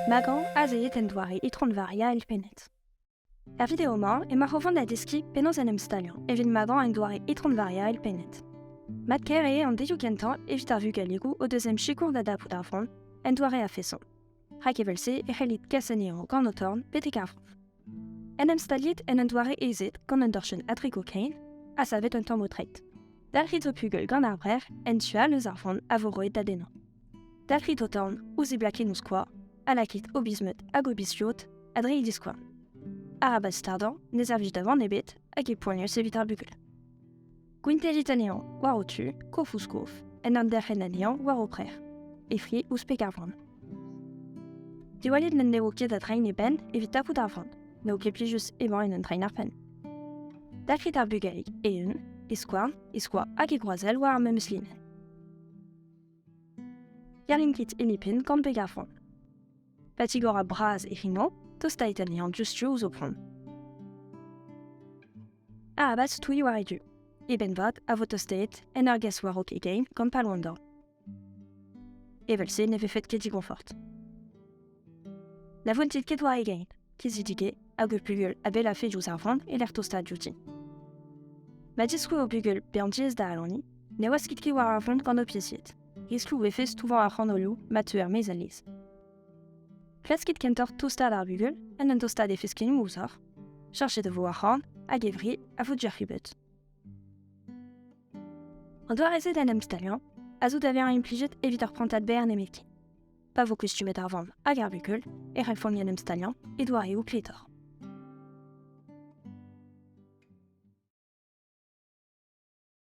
Magan az eet en doare Itron-Varia elfennet. Er video-mañ emaoc'h o vont da deskiñ penaos en em staliañ evit Magan en doare Itron-Varia elfennet. Mat-kaer eo an delioù kentañ evit ar vugalegoù o deus em sikour da dapout ar vran en doare a-feson. Rak evel-se e c'hellit kas anezhañ gant ho torn betek ar frañs. En em staliet en un doare aezet gant un dorchenn a drego kein, ha savet un tamm tret. Dalc'hit ho pugel gant ar brec'h en tu all eus ar vran a vo roet da dennañ. Dalc'hit ho torn ouzh e blakenn ouzh kwa, ha lakit o bizmeud hag o bizviot a dre e diskouarn. Arabat stardañ, ne servij da van ebet, hag e poanius evit ar bugel. Gwinterit anezhañ war ho tu, kof ouzh kof, en handerc'hen anezhañ war ho preur. E fri ouzh pek ar vran. Diwallit n'en devo ket da drein e benn evit tapout ar vran. N'eo ket plijus emañ en un drein ar penn. Dalc'hit ar bugalig eeun, e skouarn, e skoa hag e groazell war ar memes linenn. Gerlin kit hini pin gant peg ar vran. Patigor a bras e rino, tostait anezhañ diouzh-tu ouzh ho pont. Ha abat stouiñ war e du. E benn-vat a vo tostaet en ur gas war-raok e gein gant palwandor. Evel-se ne vefet ket digonfort. Na vountit ket war e gein, kizidige hag ur bugel a bell afe diouzh ar vant e lec'h tostaat diouti. Ma diskoue o bugel bezañ diaes da alaniñ, ne waskit ket war ar vont gant ho pizied. Esloù e vez touvañ ar c'hanolioù ma teu er-maez alez. Klaskit kentoc'h tostaat ar bugel en un tostaat e feskennoù ouzhoc'h. Cherchet e vo ar c'han hag e vri a vo diac'hubet. An doare-se d'en em staliañ a zo da vezañ implijet evit ur prantad berr nemetken. Pa vo kustumet ar vamm hag ar bugel e refomp en em staliañ e doareoù kletoc'h.